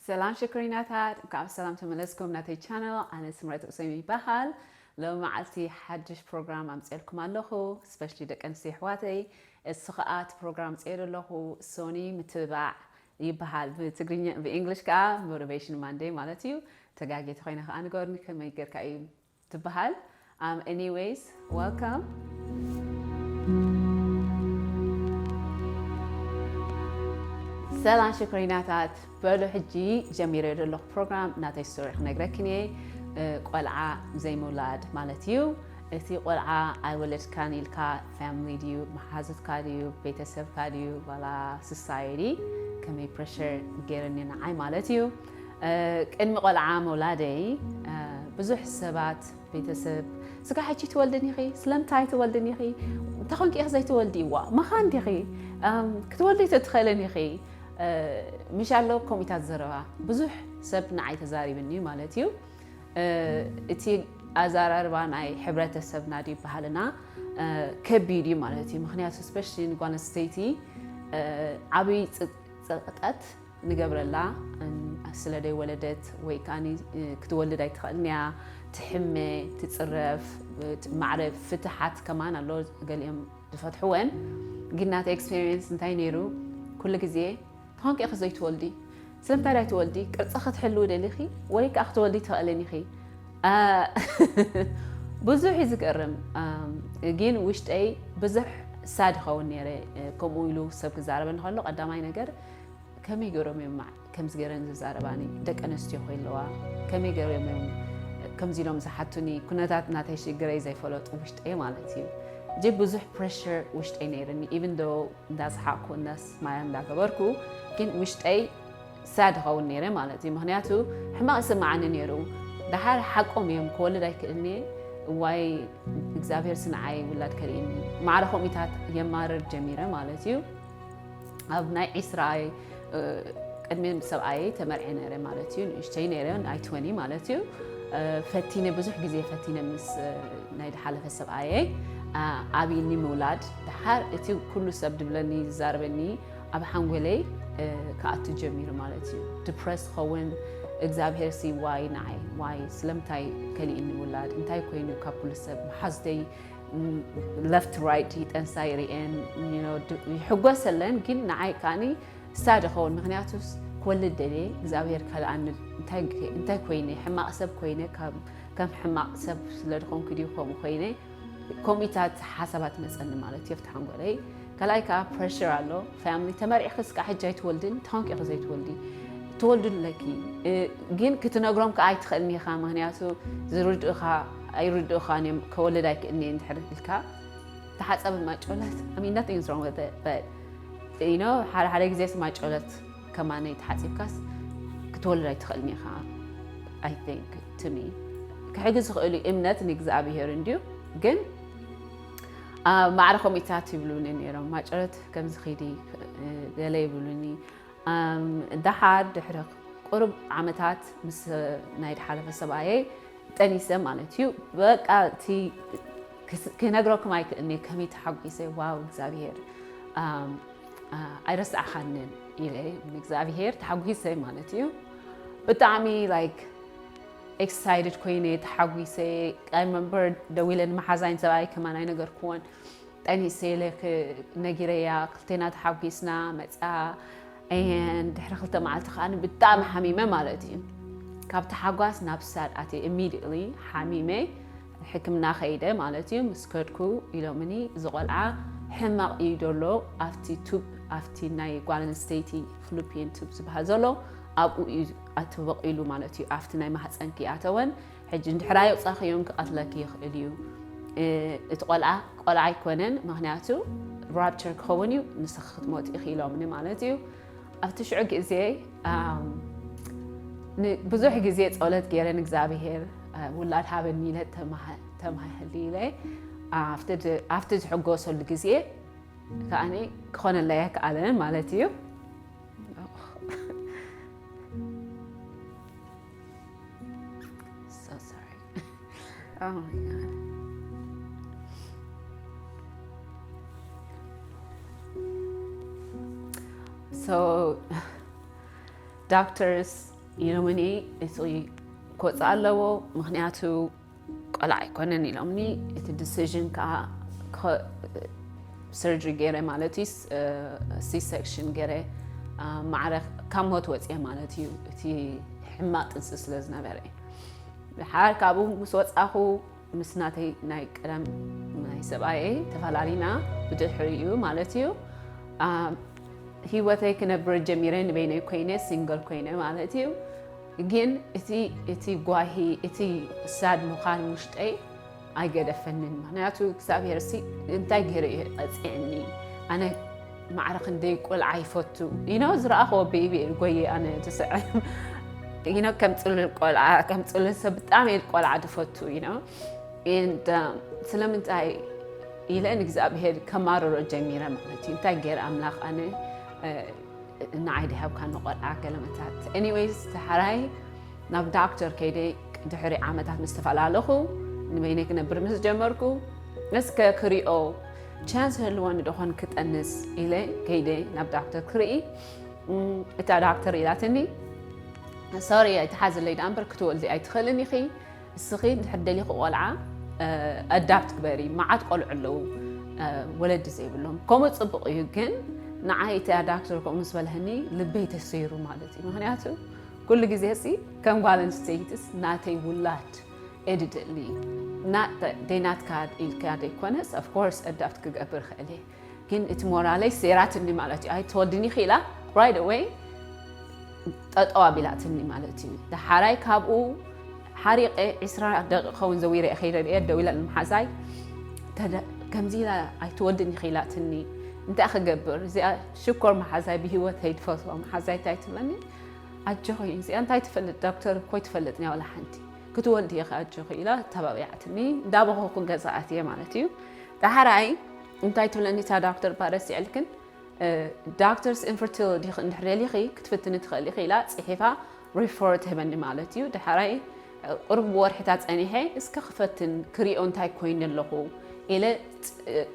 ሰላም ሽኮሪናታት እንኳዕ ብሰላም ተመለስኩም ናተይ ቻነል ኣነ ስምረት ኡሰይም ይበሃል ሎሚ መዓልቲ ሓድሽ ፕሮግራም ኣምፅኤልኩም ኣለኹ ስፔሻሊ ደቂ ኣንስትዮ ኣሕዋተይ እሱ ከዓ እቲ ፕሮግራም ኣምፅኤ ዘለኹ ሶኒ ምትብባዕ ይበሃል ብትግርኛ ብእንግሊሽ ከዓ ሞቲቬሽን ማንዴ ማለት እዩ ተጋጌ ተኮይነ ከዓ ንገሩኒ ከመይ ጌርካ እዩ ትብሃል ኣም ኤኒወይስ ወልካም። ሰላም ሽኮሪናታት በሉ ሕጂ ጀሚረዮ ዘለኹ ፕሮግራም ናተይ ስቶሪ ክነግረክን እየ ቆልዓ ዘይምውላድ ማለት እዩ እቲ ቆልዓ ኣይወለድካን ኢልካ ፋሚሊ ድዩ መሓዙትካ ድዩ ቤተሰብካ ድዩ ዋላ ሶሳይቲ ከመይ ፕረሸር ገይረኒ ንዓይ ማለት እዩ ቅድሚ ቆልዓ ምውላደይ ብዙሕ ሰባት ቤተሰብ ስጋ ሕጂ ትወልድን ኢኺ ስለምንታይ ትወልድን ኢኺ እንታይ ኮንኪ ኢኺ ዘይትወልዲ ዋ መኻን ዲኺ ክትወልዲ ኣይትትኽእልን ኢኺ ምሽ ኣሎ ከምኡታት ዘረባ ብዙሕ ሰብ ንዓይ ተዛሪብኒ እዩ ማለት እዩ እቲ ኣዘራርባ ናይ ሕብረተሰብና ድዩ ባህልና ከቢድ እዩ ማለት እዩ ምክንያቱ ስፔሻሊ ንጓል ኣንስተይቲ ዓብይ ፅቕጠት ንገብረላ ስለ ደይወለደት ወይ ከኣ ክትወልድ ኣይትኸእልንያ ትሕመ ትጽረፍ ማዕረ ፍትሓት ከማን ኣሎ ገሊኦም ዝፈትሕወን ግን ናተ ኤክስፔሪንስ እንታይ ነይሩ ኩሉ ግዜ ትኾንክ ኢኺ ዘይትወልዲ ስለምንታይ ዳይ ትወልዲ ቅርጺ ክትሕልዊ ደሊኺ ወይ ከኣ ክትወልዲ ትኸእልን ኢኺ ብዙሕ እዩ ዝገርም ግን ውሽጠይ ብዙሕ ሳድ ይኸውን ነረ ከምኡ ኢሉ ሰብ ክዛረበኒ ከሎ ቀዳማይ ነገር ከመይ ገሮም እዮም ማዕ ከምዚ ገረን ዝዛረባኒ ደቂ ኣነስትዮ ኮይለዋ ከመይ ገሮም እዮም ከምዚ ኢሎም ዝሓቱኒ ኩነታት ናተይ ሽግረይ ዘይፈለጡ ውሽጠይ ማለት እዩ እጅግ ብዙሕ ፕሬሽር ውሽጠይ ነይርኒ ኢቨን ዶ እንዳሰሓቅኩ እንዳስማያ እንዳገበርኩ ግን ውሽጠይ ሳድ ኸውን ነይረ ማለት እዩ ምክንያቱ ሕማቅ ይስማዓኒ ነይሩ ድሓር ሓቆም እዮም ክወልድ ኣይክእልኒ እዋይ እግዚኣብሄር ስንዓይ ውላድ ከርእኒ ማዕረ ከምኢታት የማርር ጀሚረ ማለት እዩ ኣብ ናይ ዒስራ ቅድሚ ሰብኣየይ ተመርዔ ነይረ ማለት እዩ ንእሽተይ ነይረ ናይ ትወኒ ማለት እዩ ፈቲነ ብዙሕ ግዜ ፈቲነ ምስ ናይ ድሓለፈ ሰብኣየይ ኣብይኒ ምውላድ ድሓር እቲ ኩሉ ሰብ ድብለኒ ዝዛርበኒ ኣብ ሓንጎለይ ክኣቱ ጀሚሩ ማለት እዩ ድፕረስ ኸውን እግዚኣብሄር ሲ ዋይ ንዓይ ዋይ ስለምንታይ ከሊእኒ ውላድ እንታይ ኮይኑ ካብ ኩሉ ሰብ መሓዝተይ ለፍት ራይት ይጠንሳ ይርኤን ይሕጎሰለን ግን ንዓይ ከዓኒ ሳድ ይኸውን ምክንያቱ ክወልድ ደልየ እግዚኣብሄር ካልኣኒ እንታይ ኮይነ ሕማቕ ሰብ ኮይነ ከም ሕማቕ ሰብ ስለ ድኾንኩ ድዩ ከምኡ ኮይነ ከምኡታት ሓሳባት መፀኒ ማለት እዮ ፍትሓንጎለይ ካልኣይ ከኣ ፕረሽር ኣሎ ፋሚሊ ተመርዕኺ እስከ ሕጂ ኣይትወልድን እንታይ ኮንኪ ኢኺ ዘይትወልዲ ትወልዱ ኣለኪ ግን ክትነግሮም ከኣ ኣይትኽእልን ኢኻ ምክንያቱ ዝርድኡኻ ኣይርድኡኻን እዮም ከወልድ ኣይክእልን እየ እንድሕር ኢልካ ተሓፀቢ ማጮለት I mean nothing is wrong with it but you know ሓደ ሓደ ግዜስ ማጮለት ከማነይ ተሓፂብካስ ክትወልድ ኣይትኽእልን ኢኻ I think to me ክሕግዝ ዝኽእሉ እምነት ንእግዚኣብሄር እንድዩ ግን ማዕረ ከምኡታት ይብሉኒ ነይሮም ማጨረት ከምዚ ኺዲ ገለ ይብሉኒ ደሓር ድሕሪ ቁርብ ዓመታት ምስ ናይ ድሓለፈ ሰብኣየይ ጠኒሰ ማለት እዩ በቃ እቲ ክነግረኩም ኣይክእልኒ ከመይ ተሓጒሰ ዋው እግዚኣብሄር ኣይረስዓኻንን ኢለ ንእግዚኣብሄር ተሓጒሰ ማለት እዩ ብጣዕሚ ላይክ ኤክሳይትድ ኮይነ እየ ተሓጒሰ ኣይ ረመምበር ደዊለ ንመሓዛይ ንሰብኣየይ ከማን ኣይነገርክዎን ጠኒሰ ኢለ ነጊረያ ክልቴና ተሓጒስና መፅኣ and ድሕሪ ክልተ መዓልቲ ከዓ ብጣዕሚ ሓሚመ ማለት እዩ ካብ ተሓጓስ ናብ ሳድ ኣትየ ኢሚድየትሊ ሓሚመ ሕክምና ከይደ ማለት እዩ ምስ ከድኩ ኢሎምኒ እዚ ቆልዓ ሕማቕ እዩ ዘሎ ኣብቲ ቱብ ኣብቲ ናይ ጓል ኣንስተይቲ ፍሉፒን ቱብ ዝበሃል ዘሎ ኣብኡ እዩ ኣትብቕ ኢሉ ማለት እዩ ኣብቲ ናይ ማህፀንኪ ኣተወን ሕጂ እንድሕር ኣየውፃእኽዮን ክቐትለኪ ይኽእል እዩ እቲ ቆልዓ ቆልዓ ኣይኮነን ምክንያቱ ራፕቸር ክኸውን እዩ ንስኺ ክትሞት ኢኺ ኢሎምኒ ማለት እዩ ኣብቲ ሽዑ ግዜ ብዙሕ ግዜ ፀሎት ገይረ ንእግዚኣብሄር ውላድ ሃበኒ ኢለ ተማህሊ ኢለ ኣብቲ ዝሕጎሰሉ ግዜ ከዓኒ ክኾነለይ ኣይከኣለን ማለት እዩ ዶክተርስ ዩኖሚኒ እፅሊ ክወፅእ ኣለዎ ምክንያቱ ቆልዓ ኣይኮነን ኢሎምኒ እቲ ዲሲዥን ከዓ ሰርጀሪ ገይረ ማለት እዩ ሲ ሴክሽን ገይረ ማዕረ ካብ ሞት ወፅየ ማለት እዩ እቲ ሕማቅ ጥንሲ ስለ ዝነበረ ድሓር ካብኡ ምስ ወፃኹ ምስ ናተይ ናይ ቀደም ናይ ሰብኣየ ተፈላሊና ብድሕሪ እዩ ማለት እዩ ሂወተይ ክነብር ጀሚረ ንበይነይ ኮይነ ሲንግል ኮይነ ማለት እዩ ግን እቲ እቲ ጓሂ እቲ ሳድ ምዃን ውሽጠይ ኣይገደፈንን ምክንያቱ እግዚኣብሄር ሲ እንታይ ገይረ እዩ ቀፂዕኒ ኣነ ማዕረ ክንደይ ቆልዓ ይፈቱ ኢኖ ዝረኣኸዎ ቤቢ ጎየ ኣነ ትስዐ ኢኖ ከም ፅሉል ቆልዓ ከም ፅሉል ሰብ ብጣዕሚ እየ ቆልዓ ዝፈቱ ኢኖ ስለምንታይ ኢለ ንእግዚኣብሄር ከማርሮ ጀሚረ ማለት እዩ እንታይ ገይረ ኣምላኽ ኣነ ንዓይ ድሃብካ ንቆልዓ ገለመታት ኤኒዌይስ ተሓራይ ናብ ዳክተር ከይደ ድሕሪ ዓመታት ምስ ተፈላለኹ ንበይነይ ክነብር ምስ ጀመርኩ እስከ ክሪኦ ቻንስ ህልወኒ ደኾን ክጠንስ ኢለ ከይደ ናብ ዳክተር ክርኢ እታ ዳክተር ኢላትኒ ሶሪ ኣይትሓዝለይ ዳኣ እምበር ክትወልዲ ኣይትኽእልን ኢኺ እስኺ እንድሕር ደሊኺ ቆልዓ ኣዳፕት ግበሪ መዓት ቆልዑ ኣለዉ ወለዲ ዘይብሎም ከምኡ ፅቡቕ እዩ ግን ንዓይ እቲ ኣዳፕተር ከምኡ ምስ በልህኒ ልበይ ተሰይሩ ማለት እዩ ምክንያቱ ኩሉ ግዜ ሲ ከም ጓል ኣንስተይትስ ናተይ ውላድ ኤድድሊ ናት ደይናትካ ኢልካ ደይኮነስ ኣፍኮርስ ኣዳፕት ክገብር ኽእል እየ ግን እቲ ሞራለይ ሰይራትኒ ማለት እዩ ኣይትወድኒ ክኢላ right away ጠጠው ኣቢላትኒ ማለት እዩ ደሓራይ ካብኡ ሓሪቀ ዕስራ ደቂ ከውን ዘዊረ ከይደ እየ ደው ኢለ ንምሓዛይ ከምዚ ኢላ ኣይትወድኒ ክኢላትኒ እንታይ ክገብር እዚኣ ሽኮር መሓዛይ ብሂወተይ ድፈትዎ መሓዛይ እንታይ ትብለኒ ኣጆኺ እዚኣ እንታይ ትፈልጥ ዶክተር ኮይ ትፈልጥ ናይ ዋላ ሓንቲ ክትወልድ ኢኻ ኣጆኺ ኢላ ተባቢዓትኒ እንዳበኸኩን ገዛኣት እየ ማለት እዩ ዳሓራይ እንታይ ትብለኒ እታ ዳክተር እባ ረሲዐልክን ዳክተርስ ኢንፈርቲል ዲኺ እንድሕር ደሊኺ ክትፍትኒ ትኽእሊ ኢኺ ኢላ ጽሒፋ ሪፈር ትህበኒ ማለት እዩ ድሓራይ ቁሩብ ብወርሒታት ጸኒሐ እስከ ክፈትን ክሪኦ እንታይ ኮይኑ ኣለኹ ኢለ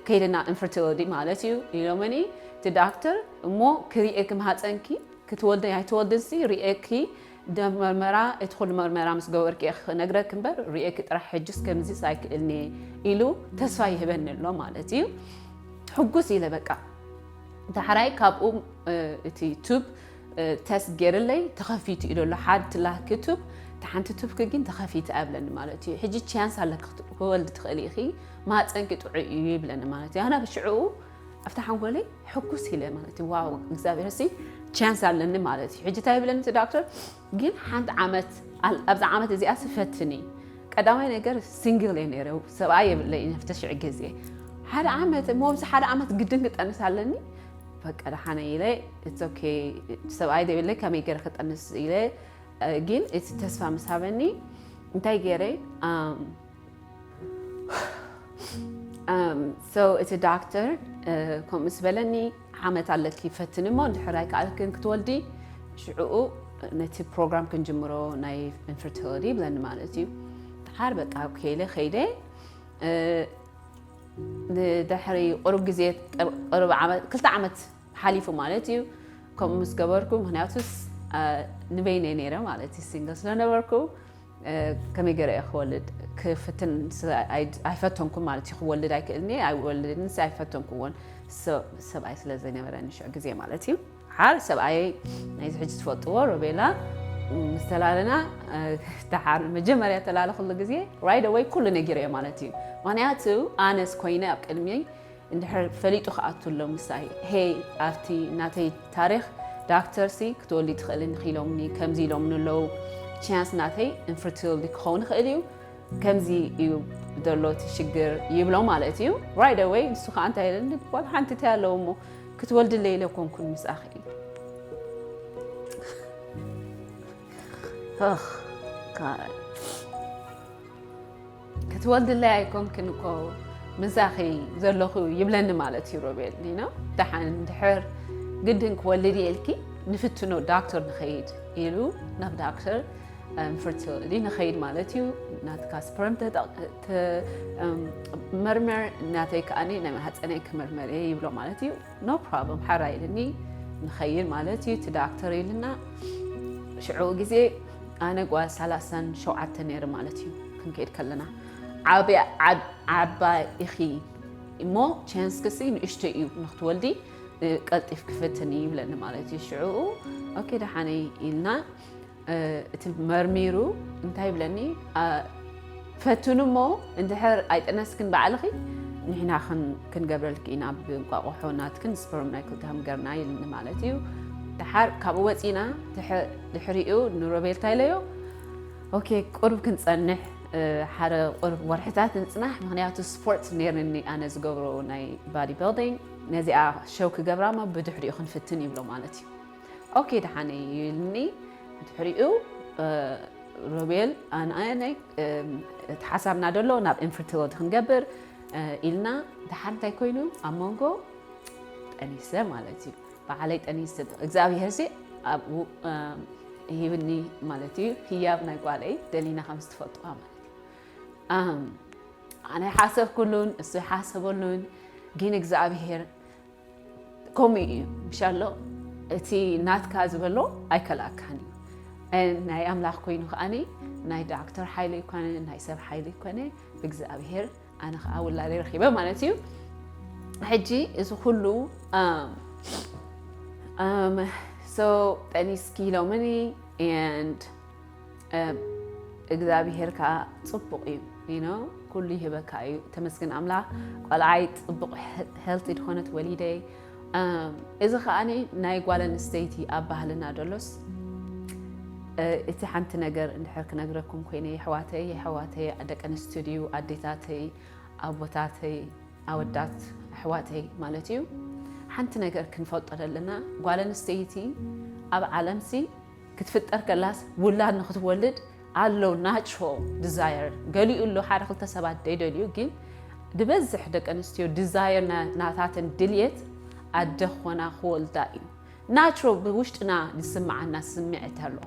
ከይድና ኢንፈርቲሊቲ ማለት እዩ ኢሎመኒ እቲ ዳክተር እሞ ክሪኤ ክምሃፀንኪ ክትወልደ ኣይትወልድንሲ ሪኤኪ ደም መርመራ እቲ ኩሉ መርመራ ምስ ገበርኩ እየ ክነግረኪ እምበር ርእየኪ ጥራሕ ሕጅስ ከምዚስ ኣይክእልንየ ኢሉ ተስፋ ይህበኒ ኣሎ ማለት እዩ ሕጉስ ኢለ በቃ ዳሕራይ ካብኡ እቲ ቱብ ተስት ገይርለይ ተኸፊቱ እዩ ዘሎ ሓንቲ ላኪ ቱብ እቲ ሓንቲ ቱብ ክጊን ተኸፊተ ኣብለኒ ማለት እዩ ሕጂ ቻንስ ኣለኪ ክወልዲ ትኽእሊ ኢኺ ማፀንኪ ጥዑይ እዩ ይብለኒ ማለት እዩ ኣነ ብሽዕኡ ኣብቲ ሓንጎለይ ሕኩስ ኢለ ማለት እዩ ዋው እግዚኣብሔር ሲ ቻንስ ኣለኒ ማለት እዩ ሕጂ እንታይ ይብለኒ እቲ ዳክተር ግን ሓንቲ ዓመት ኣብዚ ዓመት እዚኣ ስፈትኒ ቀዳማይ ነገር ሲንግል እየ ነይረ ሰብኣይ የብለይ ነፍቲ ሽዕ ግዜ ሓደ ዓመት እሞ ኣብዚ ሓደ ዓመት ግድን ክጠንስ ኣለኒ በቃ ደሓነ ኢለ ኦኬ ሰብኣይ ዘይብለይ ከመይ ገይረ ክጠንስ ኢለ ግን እቲ ተስፋ ምስ ሃበኒ እንታይ ገይረ እቲ ዳክተር ከምኡ ምስ በለኒ ዓመት ኣለኪ ፈትኒ እሞ እንድሕር ኣይከኣልክን ክትወልዲ ሽዕኡ ነቲ ፕሮግራም ክንጅምሮ ናይ ኢንፈርቲሊቲ ብለኒ ማለት እዩ ድሓር በቃ ከይለ ከይደ ንድሕሪ ቅሩብ ግዜ ቅሩብ ዓመት ክልተ ዓመት ሓሊፉ ማለት እዩ ከምኡ ምስ ገበርኩ ምክንያቱስ ንበይነይ ነይረ ማለት እዩ ሲንግል ስለነበርኩ ከመይ ገረ እየ ክወልድ ክፍትን ኣይፈተንኩ ማለት እዩ ክወልድ ኣይክእል እየ ኣይወልድን ኣይፈተንኩዎን ሰብኣይ ስለ ዘይነበረኒ ሽዑ ግዜ ማለት እዩ ሓር ሰብኣይ ናይዚ ሕጂ ትፈልጥዎ ሮቤላ ምስ ተላለና ተሓር መጀመርያ ተላለ ኩሉ ግዜ ራይደ ወይ ኩሉ ነጊረ እየ ማለት እዩ ምክንያቱ ኣነስ ኮይነ ኣብ ቅድሚ እንድሕር ፈሊጡ ክኣቱ ኣሎ ምሳይ ሄይ ኣብቲ ናተይ ታሪኽ ዳክተር ሲ ክትወልዲ ትኽእሊ እንኺ ኢሎምኒ ከምዚ ኢሎምኒ ኣለዉ ቻንስ ናተይ ኢንፈርቲሊቲ ክኸውን ይኽእል እዩ ከምዚ እዩ ዘሎ እቲ ሽግር ይብሎ ማለት እዩ ራይት ኣወይ ንሱ ከዓ እንታይ ኢለኒ ጓል ሓንቲ እንታይ ኣለዎ እሞ ክትወልድለይ ኢለ ኮንኩን ምስኣኺ እዩ ክትወልድለይ ኣይኮንክን እኮ ምሳኺ ዘለኹ ይብለኒ ማለት እዩ ሮቤል ነው ደሓን ድሕር ግድን ክወልድ እየ ኢልኪ ንፍትኖ ዳክተር ንኸይድ ኢሉ ናብ ዳክተር ፈርቲሊቲ ንኸይድ ማለት እዩ ናትካ ስፐርም መርመር ናተይ ከዓ ናይ ማህፀነይ ክምርመር እየ ይብሎ ማለት እዩ ኖ ፕሮብለም ሓራ ኢልኒ ንኸይድ ማለት እዩ እቲ ዳክተር ኢልና ሽዑ ግዜ ኣነ ጓል ሳላሳን ሸውዓተ ነይረ ማለት እዩ ክንከይድ ከለና ዓባይ ኢኺ እሞ ቻንስክሲ ንእሽቶ እዩ ንክትወልዲ ቀልጢፍ ክፍትን እዩ ይብለኒ ማለት እዩ ሽዑኡ ኦኬ ደሓነይ ኢልና እቲ መርሚሩ እንታይ ይብለኒ ፈትኑ እሞ እንድሕር ኣይጠነስክን ባዕልኺ ንሕና ክንገብረልኪ ኢና ብእንቋቑሖ ናትክን ስፐርም ናይ ክልተኹም ገርና ኢልኒ ማለት እዩ ደሓር ካብኡ ወፂና ድሕሪኡ ንሮቤል እንታይ ኢለዮ ኦኬ ቁርብ ክንፀንሕ ሓደ ቁርብ ወርሕታት ንፅናሕ ምክንያቱ ስፖርት ነይርኒ ኣነ ዝገብሮ ናይ ባዲ ቢልዲንግ ነዚኣ ሸው ክገብራ እሞ ብድሕሪኡ ክንፍትን ይብሎ ማለት እዩ ኦኬ ደሓን እዩ ኢልኒ ድሕሪኡ ሮቤል ኣነይ እቲ ሓሳብና ደሎ ናብ ኢንፈርቲሊቲ ክንገብር ኢልና ድሓር እንታይ ኮይኑ ኣብ መንጎ ጠኒሰ ማለት እዩ በዓለይ ጠኒስ እግዚኣብሄር ሲ ኣብኡ ሂብኒ ማለት እዩ ህያብ ናይ ጓለይ ደሊና ከም ዝትፈልጥዋ ማለት እዩ ኣነ ሓሰብኩሉን እሱ ሓሰበሉን ግን እግዚኣብሄር ከምኡ እዩ ምሻሎ እቲ ናትካ ዝበሎ ኣይከልኣካን እዩ ናይ ኣምላኽ ኮይኑ ከዓኒ ናይ ዳክተር ሓይሊ ይኮነ ናይ ሰብ ሓይሊ ይኮነ ብእግዚኣብሄር ኣነ ከዓ ውላደ ረኪበ ማለት እዩ ሕጂ እዚ ኩሉ ጠኒስኪ ኢሎምኒ እግዚኣብሄር ከዓ ፅቡቅ እዩ ዩ ኩሉ ይህበካ እዩ ተመስግን ኣምላክ ቆልዓይ ፅቡቅ ሄልቲ ድኾነት ወሊደ እዚ ከዓ ናይ ጓል ኣንስተይቲ ኣብ ባህልና ደሎስ እቲ ሓንቲ ነገር እንድሕር ክነግረኩም ኮይነ የሕዋተይ የሕዋተይ ደቂ ኣንስትዮ ድዩ ኣዴታተይ ኣቦታተይ ኣወዳት ኣሕዋተይ ማለት እዩ ሓንቲ ነገር ክንፈልጦ ዘለና ጓል ኣንስተይቲ ኣብ ዓለምሲ ክትፍጠር ከላስ ውላድ ንክትወልድ ኣሎ ናቹራል ድዛየር ገሊኡ ኣሎ ሓደ ክልተ ሰባት ደይደልዩ ግን ድበዝሕ ደቂ ኣንስትዮ ድዛየር ናታተን ድልየት ኣደ ክኾና ክወልዳ እዩ ናቹራል ብውሽጥና ዝስምዓና ስምዒት ኣሎ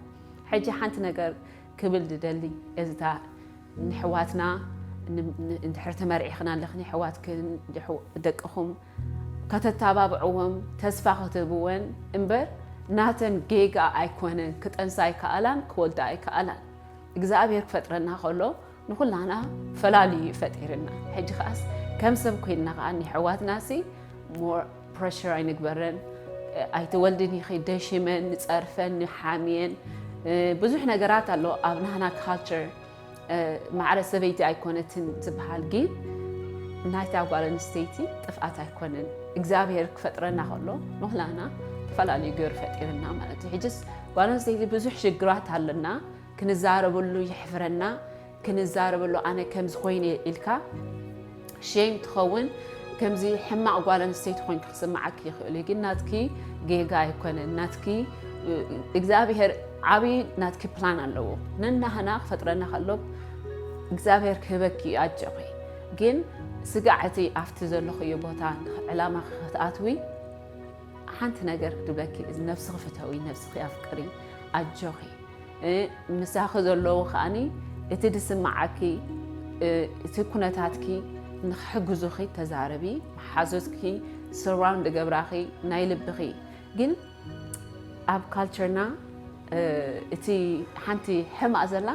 ሕጂ ሓንቲ ነገር ክብል ድደሊ እዚታ ንሕዋትና እንድሕር ተመርዒኽና ኣለኽን የሕዋትክን ደቅኹም ከተታባብዕወን ተስፋ ክትህብወን እምበር ናተን ጌጋ ኣይኮነን ክጠንሳ ኣይከኣላን ክወልዳ ኣይከኣላን እግዝኣብሄር ክፈጥረና ከሎ ንኹላና ፈላልዩ እዩ ፈጢርና ሕጂ ከኣስ ከም ሰብ ኮይንና ከኣ ንሕዋትናሲ ሞር ፕረሽር ኣይንግበረን ኣይትወልድን ኢኺ ደሽመን ንጸርፈን ንሓምየን ብዙሕ ነገራት ኣሎ ኣብ ናህና ካልቸር ማዕረ ሰበይቲ ኣይኮነትን ትብሃል ግን ናይታ ጓል ኣንስተይቲ ጥፍኣት ኣይኮነን እግዚኣብሄር ክፈጥረና ከሎ ንኩላና ተፈላለዩ ገይሩ ፈጢርና ማለት እዩ ሕጅስ ጓል ኣንስተይቲ ብዙሕ ሽግራት ኣለና ክንዛረበሉ ይሕፍረና ክንዛረበሉ ኣነ ከምዚ ኮይነ ኢልካ ሼም ትኸውን ከምዚ ሕማቅ ጓል ኣንስተይቲ ኮንኪ ክስምዓኪ ይኽእል እዩ ግን ናትኪ ጌጋ ኣይኮነን ናትኪ እግዚኣብሄር ዓብዪ ናትኪ ፕላን ኣለዎ ነናህና ክፈጥረና ከሎ እግዚኣብሄር ክህበኪ እዩ ኣጆኺ ግን ስጋዕ እቲ ኣብቲ ዘለኽዮ ቦታ ዕላማ ክትኣትዊ ሓንቲ ነገር ክድብለኪ እዚ ነብስኺ ፍተዊ ነብስኺ ኣፍቅሪ ኣጆኺ ምሳኺ ዘለዉ ከዓኒ እቲ ድስማዓኪ እቲ ኩነታትኪ ንክሕግዙኺ ተዛረቢ መሓዙትኪ ስራውን ድገብራኺ ናይ ልብኺ ግን ኣብ ካልቸርና እቲ ሓንቲ ሕማቅ ዘላ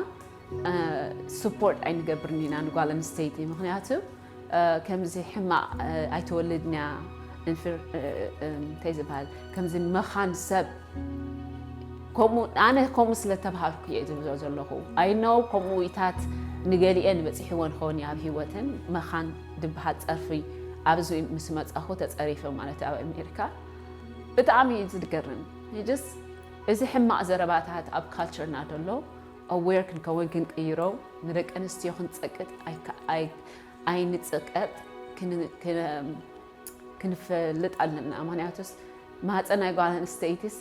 ስፖርት ኣይንገብርን ኢና ንጓል ኣንስተይቲ ምክንያቱ ከምዚ ሕማቕ ኣይትወልድንያ እንፍር እንታይ ዝበሃል ከምዚ መኻን ሰብ ከምኡ ኣነ ከምኡ ስለ ተባሃልኩ እየ ዝብሎ ዘለኹ ኣይነው ከምኡ ኢታት ንገሊኤን በፂሕወን ኸውን ኣብ ሂወትን መኻን ድበሃል ፀርፊ ኣብዚ ምስ መፃኹ ተፀሪፈ ማለት ኣብ ኣሜሪካ ብጣዕሚ እዩ ዝገርም ጅስ እዚ ሕማቕ ዘረባታት ኣብ ካልቸርና ደሎ ኣዌር ክንከውን ክንቅይሮ ንደቂ ኣንስትዮ ክንጸቅጥ ኣይንጸቀጥ ክንፈልጥ ኣለና ምክንያቱስ ማህፀን ናይ ጓል ኣንስተይቲስ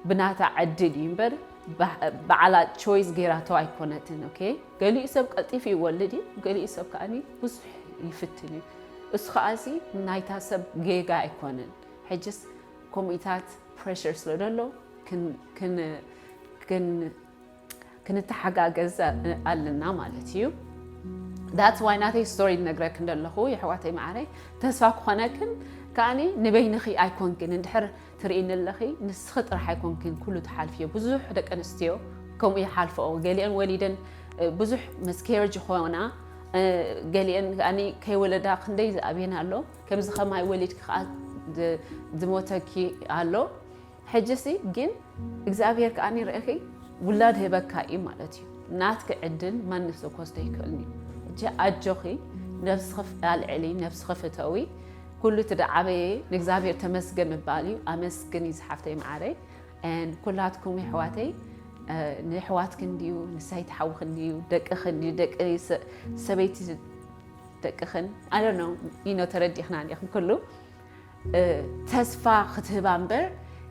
ብናታ ዕድል እዩ እምበር ባዕላ ቾይስ ጌራቶ ኣይኮነትን ኦኬ ገሊኡ ሰብ ቀልጢፉ ይወልድ እዩ ገሊኡ ሰብ ከዓ ብዙሕ ይፍትን እዩ እሱ ከዓ እዚ ናይታ ሰብ ጌጋ ኣይኮነን ሕጅስ ኮሚታት ፕሬሽር ስለ ዘሎ ክንተሓጋገዝ ኣለና ማለት እዩ ዳት ዋይ ናተይ ስቶሪ ነግረክ እንደለኹ የሕዋተይ መዓረይ ተስፋ ክኾነክን ከዓኒ ንበይንኺ ኣይኮንክን እንድሕር ትርእኒ ኣለኺ ንስኺ ጥራሕ ኣይኮንክን ኩሉ ትሓልፍዮ ብዙሕ ደቂ ኣንስትዮ ከምኡ ይሓልፈኦ ገሊአን ወሊደን ብዙሕ መስኬረጅ ይኾና ገሊአን ከዓኒ ከይወለዳ ክንደይ ዝኣብየን ኣሎ ከምዚ ከማይ ወሊድኪ ከዓ ዝሞተኪ ኣሎ ሕጂሲ ጊን እግዚኣብሄር ከኣ ርኢኺ ውላድ ህበካ እዩ ማለት እዩ ናትኪ ዕድል ማንም ሰብ ክወስዶ ኣይክእልን እዩ እጂ ኣጆኺ ነብስኺ ኣልዕሊ ነብስኺ ፍተዊ ኩሉ እቲ ድዓበየ ንእግዚኣብሄር ተመስገን ምባል እዩ ኣመስግኒ ዝሓፍተይ መዓረይ ኩላትኩም የሕዋተይ ንሕዋትክ እንድዩ ንሳይ ትሓውክ እንድዩ ደቅክ እንድዩ ደቂ ሰበይቲ ደቅክን ኣነ ነው ተረዲኽና ኹም ኩሉ ተስፋ ክትህባ እምበር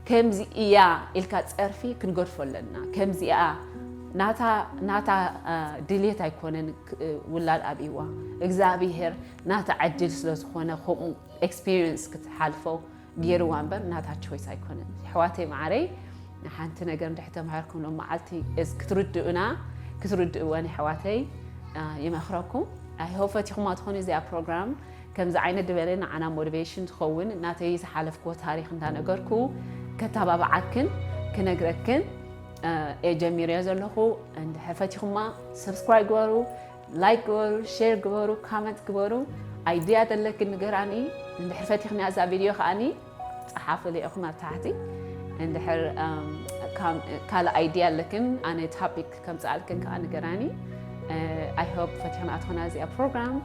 ከምዚ እያ ኢልካ ጸርፊ ክንገድፎ ኣለና ከምዚኣ ናታ ናታ ድልየት ኣይኮነን ውላድ ኣብይዋ እግዚኣብሄር ናታ ዕድል ስለ ዝኾነ ከምኡ ኤክስፒሪየንስ ክትሓልፎ ገይርዋ እምበር ናታ ቾይስ ኣይኮነን ኣሕዋተይ መዓረይ ሓንቲ ነገር እንድሕር ተማሂርኩም ሎም መዓልቲ ክትርድኡና ክትርድእወን ኣሕዋተይ ይመኽረኩም ኣይሆ ፈቲኹማ ትኾኑ እዚኣ ፕሮግራም ከምዚ ዓይነት ዝበለ ንዓና ሞቲቬሽን ዝኸውን ናተይ ዝሓለፍክዎ ታሪኽ እንዳነገርኩ ከታባብዓክን ክነግረክን እየ ጀሚረዮ ዘለኹ እንድሕር ፈቲኹማ ሰብስክራይብ ግበሩ ላይክ ግበሩ ሼር ግበሩ ካመንት ግበሩ ኣይድያ ዘለክን ንገራኒ እንድሕር ፈቲኽንያ እዛ ቪድዮ ከዓኒ ጸሓፉ ሊኢኩም ኣብ ታሕቲ እንድሕር ካልእ ኣይድያ ኣለክን ኣነ ታፒክ ከምጽኣልክን ከዓ ንገራኒ ኣይ ሆፕ ፈቲሖም ኣትኾና እዚኣ ፕሮግራም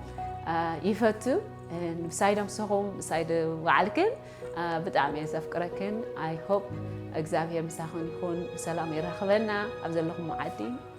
ይፈቱ ምሳይ ደምስኹም ምሳይ ባዓልክን ብጣዕሚ እየ ዘፍቅረክን ኣይ ሆፕ እግዚኣብሄር ምሳኽን ይኹን ብሰላም የራኽበና ኣብ ዘለኹም ዓዲ